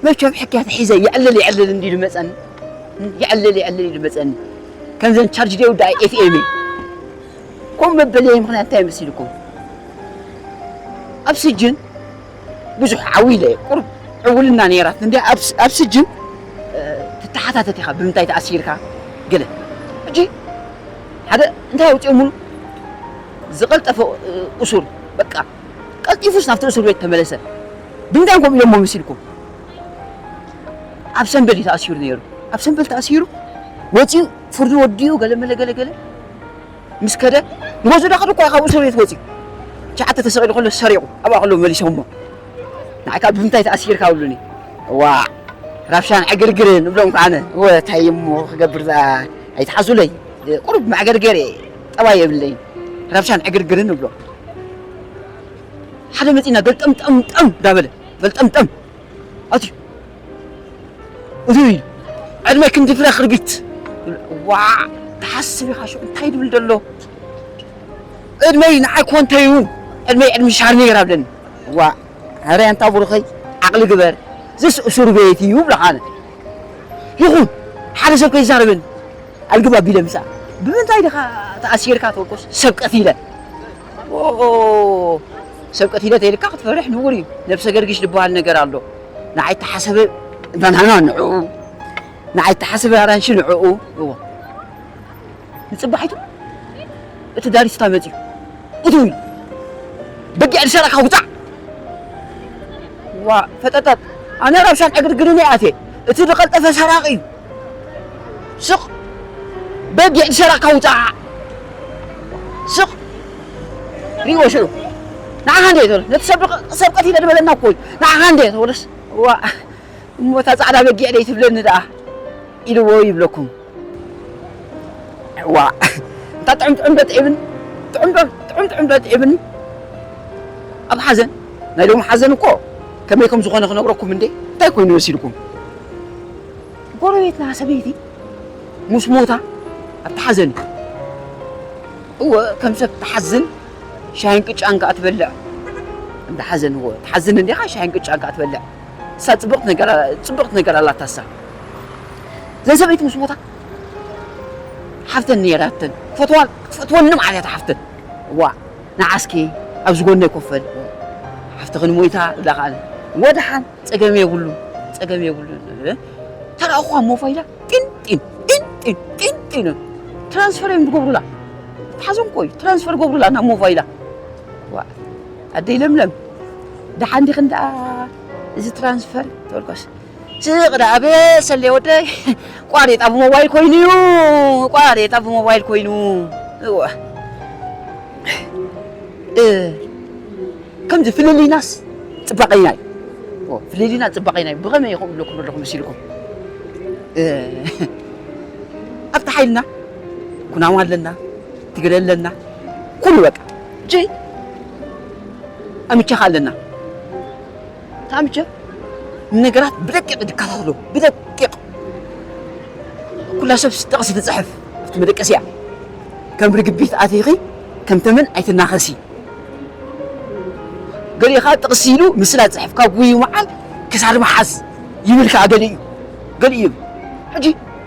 መቸም ሕክያት ሒዘ የዕልል የዕልል እንዲሉ መጸኒ የዕልል የዕልል ኢሉ መጸኒ ከምዘን ቻርጅ ደው ዳኣ ኤፍኤም ኮም መበለየ ምክንያት እንታይ መሲልኩም ኣብ ስጅን ብዙሕ ዓው ኢለ ቁርብ ዕውልና ነይራት እንዲ ኣብ ስጅን ትተሓታተት ኢኻ ብምንታይ ተኣሲርካ ገለ ሕጂ ሓደ እንታይ ኣውፂኦሙሉ ዝቐልጠፈ እሱር በቃ ቀልጢፉስ ናብቲ እስር ቤት ተመለሰ። ብምንታይ ከምኡ ኢሎሞ መሲልኩም? ኣብ ሰምበል እዩ ተኣሲሩ ነይሩ። ኣብ ሰምበል ተኣሲሩ ወፂኡ ፍርዱ ወዲኡ ገለመለ ገለገለ ምስ ከደ ንገዝኡ ዳኸደ እኳ ካብ እስር ቤት ወፂኡ ትሽዓተ ተሰቒሉ ከሎ ሰሪቑ ኣብኣ ከሎ መሊሶሞ ንዓይ ከዓ ብምንታይ ተኣሲርካ ብሉኒ ዋዕ ራብሻን ዕግርግርን እብሎም ከዓ ኣነ እወ እንታይ እሞ ክገብር ዝኣ ኣይትሓዙለይ ቁሩብ መዕገርገር እየ ጠባይ የብለይን ረብሻን ዕግርግርን እብሎ ሓደ መፂና ገልጠምጠምጠም ዳበለ ገልጠምጠም ኣትዩ እዚ እዩ ዕድመ ክንዲ ፍረ ክርቢት ዋዕ ትሓስብ ኢኻ ሽዑ እንታይ ድብል ደሎ ዕድመይ ንዓይ ኮንተይ እውን ዕድመይ ዕድሚ ሻርኔር ኣብለኒ ዋዕ ኧረ ኣንታ ብሩኸይ ዓቕሊ ግበር ዝስ እሱር ቤት እዩ ብለኻ ኣነ ይኹን ሓደ ሰብ ከይዛረበኒ ኣልግብ ኣቢለ ምጻእ ብምንታይ ድኻ ተኣሲርካ ተወቆስ ሰብ ቀቲለ ሰብ ቀቲለ ተይልካ ክትፈርሕ ንቡር እዩ ነብሰ ገርግሽ ዝበሃል ነገር ኣሎ ንዓይ ተሓሰበ ባናና ንዕኡ ንዓይ ተሓሰበ ኣራንሺ ንዕኡ እዎ ንጽባሒቱ እቲ ዳሪስታ መጽዩ እቱይ በጊዕ ልሸራካ ውጻዕ ዋ ፈጠጠጥ ኣነ ረብሻን ዕግርግርን ይኣትየ እቲ ዝቐልጠፈ ሰራቂ እዩ ስቕ በጊዕ ትሸራካ ውፃዓ ስቕ ሪእዎ ሽዑ ንዓኻ እንደ ተብሎ ነቲ ሰብ ሰብ ቀቲለ ዝበለና እኮ እዩ ንዓኻ እንደ ተብሎስ ዋ እሞ እታ ፃዕዳ በጊዕ ደይ ትብለኒ ደኣ ኢልዎ ይብለኩም ዋ እንታ ጥዑም ጥዑም በት ዒብኒ ጥዑም ጥዑም ጥዑም በት ዒብኒ ኣብ ሓዘን ናይ ሎሚ ሓዘን እኮ ከመይ ከም ዝኾነ ክነግረኩም እንዴ እንታይ ኮይኑ መሲልኩም ጎረቤትና ሰበይቲ ምስ ሞታ ኣብ ተሓዘን እወ ከም ሰብ ትሓዝን ሻሂን ቅጫን ከዓ ትበልዕ እንዳ ሓዘን እወ ትሓዝን እንዲኻ ሻሂን ቅጫን ከዓ ትበልዕ እሳ ፅብቕቲ ነገር ፅብቕቲ ነገር ኣላታ እሳ ዘን ሰበይቲ ምስ ሞታ ሓፍተን ነይራተን ፈትዋ ፈትወንም ዓብያታ ሓፍተን እዋ ንዓስኪ ኣብ ዝጎነይ ኮፈል ሓፍትኽን ሞይታ ኢላ ከዓ ወድሓን ጸገም የብሉን ጸገም የብሉን ተራእኹ ኣብ ሞባይላ ጢንጢን ጢንጢን ጢንጢን ትራንስፈር እዮም ዝገብሩላ ሓዞም ቆዩ ትራንስፈር ገብሩላ ናብ ሞባይላ ኣደይ ለምለም ደሓን ዲኽን ደኣ እዚ ትራንስፈር ተወልኳስ ስቕ ደኣ በሰለየ ወደይ ቋሬጣ ብሞባይል ኮይኑ እዩ ቋሬጣ ብሞባይል ኮይኑ እወ ከምዚ ፍልልይናስ ፅባቐይና እዩ ፍልልይና ፅባቐይና እዩ ብኸመይ ይኸው ኣለኩም ኣለኹ መሲልኩም ኣብቲ ሓይልና ኩናማ ኣለና ትግረ ኣለና ኩሉ በቃ ጀይ ኣምቻኻ ኣለና ታምቸ ንነገራት ብደቂቕ ድከታተሎ ብደቂቕ ኩላ ሰብስ ጥቕሲ ትፅሕፍ ኣብቲ መደቀስያ ከም ርግቢት ኣቲኺ ከም ተመን ኣይትናኸሲ ገሊኡ ከዓ ጥቕሲ ኢሉ ምስላ ፅሕፍ ካብ ጉዩ መዓል ክሳድ መሓዝ ይብል ከዓ ገሊኡ ገሊኡ ሕጂ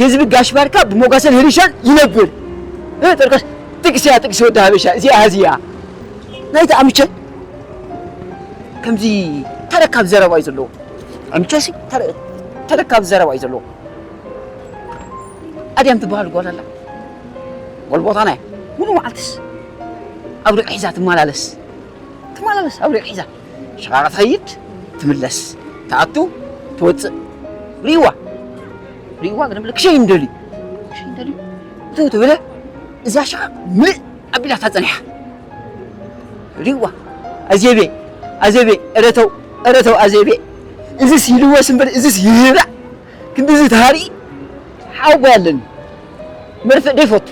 ህዝቢ ጋሽ ባርካ ብሞጋሰን ህርሻን ይነብር። ጥርቀስ ጥቅስያ ጥቅሲ ወዲ ሃበሻ እዚኣ ሃዚያ ናይቲ ኣምቸ ከምዚ ተረካብ ዘረባ እዩ ዘለዎ። ኣምቸሲ ተረካብ ዘረባ እዩ ዘለዎ። ኣድያም ትበሃል ጓል ኣላ ጓል ቦታ ናይ ሙሉ መዓልትስ ኣብ ሪቕ ሒዛ ትመላለስ ትመላለስ ኣብ ሪቕ ሒዛ ሽቓቕ ትኸይድ ትምለስ ትኣቱ ትወጽእ ሪእዋ ሪእዋ ግን ምልክ ሸይን ደልዩ ሸይን ደልዩ እቱ ትብለ እዛ ሽቓቕ ምልእ ኣቢላታ ጸኒሓ ሪእዋ ኣዜቤ ኣዜቤ እረተው እረተው ኣዜቤ እዚስ ይልወስ እምበር እዚስ ይህብዕ ክንዲዚ ተሃርኢ ሓው ጓይ ኣለኒ መርፍእ ደይፈቱ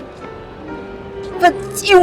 ፈጺሙ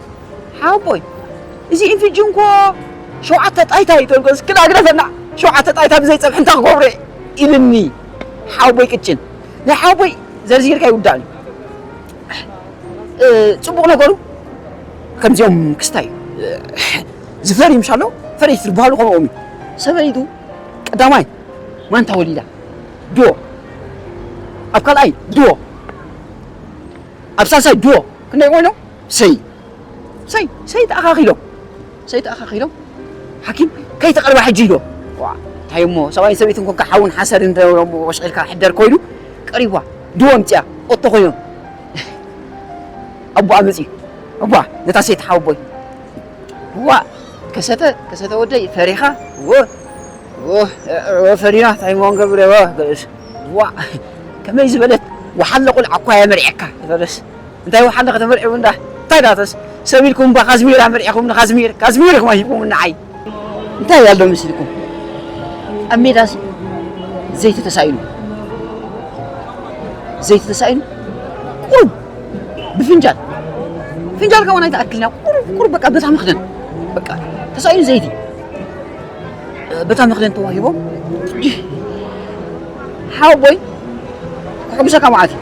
ሓቦይ እዚ ኢንፊጅን እኮ ሸውዓተ ጣይታ እዩ ተልኮ እስኪ ዳግረፈና ሸውዓተ ጣይታ ብዘይ ፀብሒ እንታይ ክገብሮ ኢልኒ ሓቦይ ቅጭን ናይ ሓቦይ ዘርዚርካ ይውዳእን እዩ ፅቡቕ ነገሩ ከምዚኦም ክስታይ ዝፈሪ ምሻ ኣሎ ፈረይቲ ዝበሃሉ ከምኦም እዩ ሰበይቱ ቀዳማይ ማንታ ወሊዳ ዶ ኣብ ካልኣይ ዶ ኣብ ሳልሳይ ዶ ክንደይ ኮይኖም ሰይ ሰይ ሰይ ተኣኻኺሎም ሰይ ተኣኻኺሎም ሓኪም ከይተቐርባ ሕጂ ኢሎ እንታይ እሞ ሰብኣይን ሰበይትን ኮንካ ሓውን ሓሰርን ደሮሞ ወሽዒልካ ሕደር ኮይኑ ቀሪባ ድዎ ምፅያ ኦቶ ኮይኖም ኣቦኣ መፅዩ ኣቦኣ ነታ ሰይቲ ሓወቦይ እዋ ከሰተ ከሰተ ወደይ ፈሪኻ ወ ፈሪና እንታይ እሞ ንገብር ዋ ከመይ ዝበለት ወሓለ ቁልዓ እኳ እየ መሪዐካ ዝበለስ እንታይ ወሓንዳ ከተመርዕዩ እንዳ እንታይ ዳተስ ሰብ ኢልኩም እባ ካዝሚር ኣመርዒኹም ንካዝሚር ካዝሚር ኢኹም ሂብኩምኒ ንዓይ እንታይ ኣሎ መስልኩም ኣብ ሜዳስ ዘይቲ ተሳኢኑ ዘይቲ ተሳኢኑ ቁሩብ ብፍንጃል ፍንጃል ከውን ኣይተኣክልና ቁሩብ ቁሩብ በቃ በታ መኽደን በቃ ተሳኢኑ ዘይቲ በታ መኽደን ተዋሂቦም ሓወቦይ ክሕጉሰካ መዓት እዩ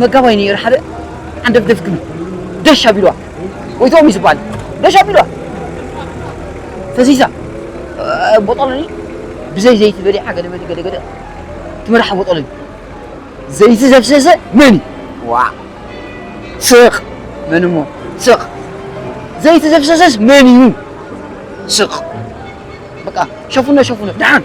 መጋባይ ነይሩ ሓደ ዓንደብ ደፍግም ደሽ ኣቢልዋ ወይቶም እዩ ዝበሃል ደሽ ኣቢልዋ ተዚዛ ቦጦሎኒ ብዘይ ዘይቲ በሊዓ ገለመሊ ገለገለ ትመርሓ ቦጦሎኒ ዘይቲ ዘፍሰሰ መን እዩ ዋ ስቕ መን እሞ ስቕ ዘይቲ ዘፍሰሰስ መን እዩ ስቕ በቃ ሸፉነ ሸፉነ ደሓን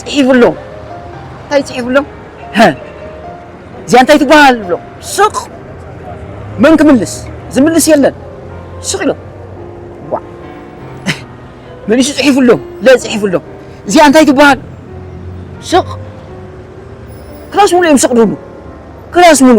ፅሒፍሎም እንታይ ፅሒፍሎም እዚኣ እንታይ ትበሃል ብሎም ስቕ መን ክምልስ ዝምልስ የለን ስቕ ኢሎም ዋ መሊሱ ፅሒፍሎም ለ ፅሒፍሎም እዚኣ እንታይ ትበሃል ስቕ ክላስ ሙሉ እዮም ስቕ ድብሉ ክላስ ሙሉ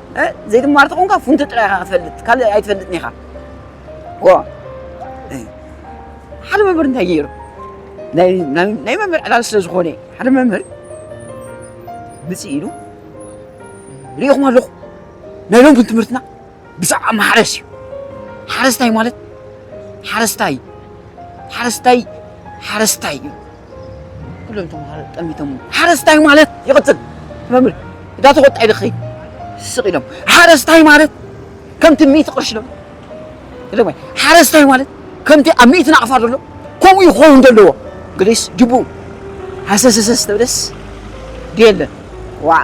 ዘይትማር ተኾንካ ፉንቲ ጥራይ ኢኻ ክትፈልጥ ካልእ ኣይትፈልጥን ኢኻ ዋ ሓደ መምህር እንታይ ገይሩ ናይ መምህር ዕላል ስለ ዝኾነ ሓደ መምህር ምፅእ ኢሉ ሪኢኹም ኣለኹ ናይ ሎሚ ትምህርትና ብዛዕባ ማሕረስ እዩ ሓረስታይ ማለት ሓረስታይ ሓረስታይ ሓረስታይ እዩ ኩሎም ተምሃሮ ጠሚቶሞ ሓረስታይ ማለት ይቕጽል መምህር እዳ ተቖጣ ኢለ ክኸይድ ስቕ ኢሎም ሓረስታይ ማለት ከምቲ ሚእቲ ቅርሺ ዶ ኢሎም ሓረስታይ ማለት ከምቲ ኣብ ሚእቲ ናቕፋ ዘሎ ከምኡ እዩ ክኸውን ዘለዎ ግሪስ ጅቡ ሃሰሰሰስ ተብለስ ድየለ ዋዕ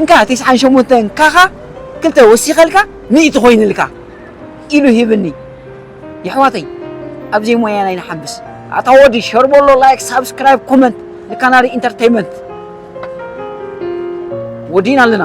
እንካ ቴስዓን ሸሞንተን ካኻ ክልተ ወሲኸልካ ሚእቲ ኮይንልካ ኢሉ ሂብኒ የሕዋተይ ኣብዘይ ሞያን ኣይንሓብስ ኣታ ወዲ ሸር በሎ ላይክ ሳብስክራይብ ኮመንት ንካናሪ ኢንተርተይመንት ወዲና ኣለና።